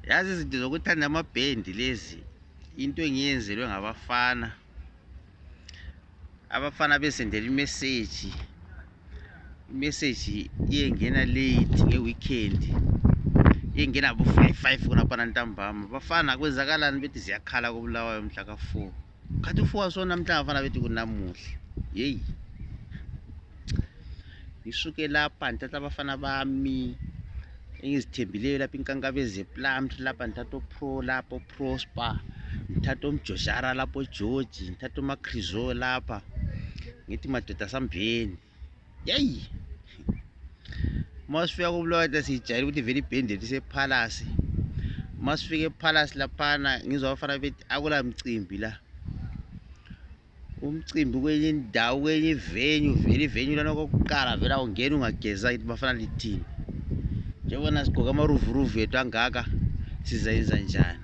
yazi izinto zokuthanda amabhendi lezi into engiyenzelwe ngabafana abafana besendela imeseji imeseji iyengena late ngeweekend iyengena bo-five five khonapha nantambama bafana kwenzakalani bethi ziyakhala kobulawayo mhla ka-four khathi ufuwa swona mhlawumbe afana bethi kunamuhle yeyi ngisuke lapha ndithatha abafana bami engizithembileyo lapha inkankabe zeplamnt lapha ndithatha opro lapha oprosper ngithatha omjojara lapho ogeorge ngithatha omacrisol lapha ngithi madoda sambheni yeyi uma sifika kubulaweta siyijayele ukuthi vele ibhende lisephalasi uma sifika ephalasi laphana ngizwa abafana bethi akula mcimbi la umcimbi kwenye indawo kwenye ivenyu vele ivenyu lana kokuqala vele awungeni ungageza kithi bafana lithini njengobana sigqoke amaruvuruvu ethu angaka sizayenza njani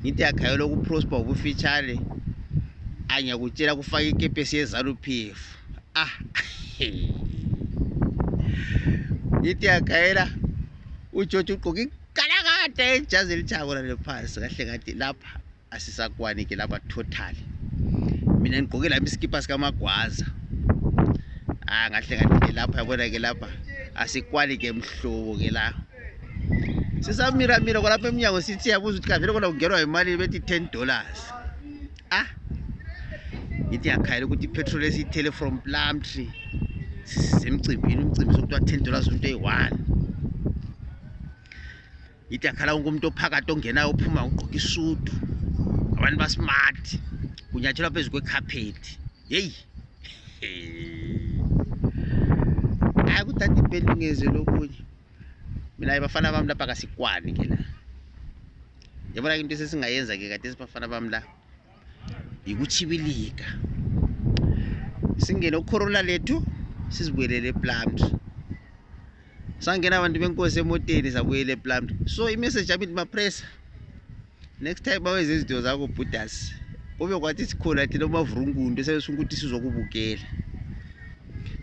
ngithi yakhayela ukuprosper ngokufitshane angiyakutshela kufaka ikepesi yezaluphefu ah ngithi yakhayela ujotsho ugqoke igalakade ejazi elitshakula lephansi kahle kathi lapha asisakwani ke lapha total mina ngigqoke lami isikipa sikamagwaza ah ngahle ngathi ke lapha yabona ke lapha asikwani ke mhlobo ke lapha sisamira mira kwalapha emnyango sithi yabuza ukuthi kavele kona kungenwa imali bethi 10 dollars ah ngithi yakhayela ukuthi ipetrol esiyithele from plum tree semcimbini umcimbi sokuthiwa 10 dollars umuntu eyi-one ngithi yakhala wonke umuntu ophakathi ongenayo ophuma ugqoke isudu abantu basmart kunyatshelwa phezu kwekhaphethi yeyi hayi kudade ibheli ngeze lokunye mina bafana bami lapha kasikwani ke la yabona into sesingayenza ke kade sibafana bami la yikuchibilika singene ukhorona lethu sizibuyelele eplumd sangena abantu benkosi emoteni sabuyela eplumd so imessage yami ndimapressa next time baweze izinto zakho bhudas kube kwathi sikhona thina umavurungundu esabesunga ukuthi sizokubukela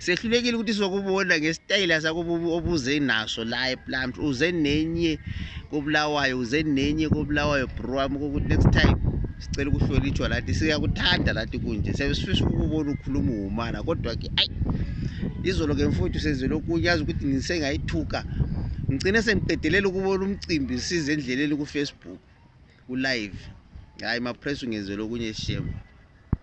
sehlulekile ukuthi sizokubona ngesitayela sakho obuze naso la eplant uze nenye kobulawayo uze nenye kobulawayo bro wami kokuthi next time sicela ukuhlonitshwa lathi siyakuthanda lathi kunje siyabe sifisa ukubona ukhuluma uhumana kodwa-ke ayi izolo ke mfowethu senzele okunye yazi ukuthi ngisengayithuka ngicine sengiqedelela ukubona umcimbi size endleleni kufacebook kulive hhayi mapress ungenzela okunye shame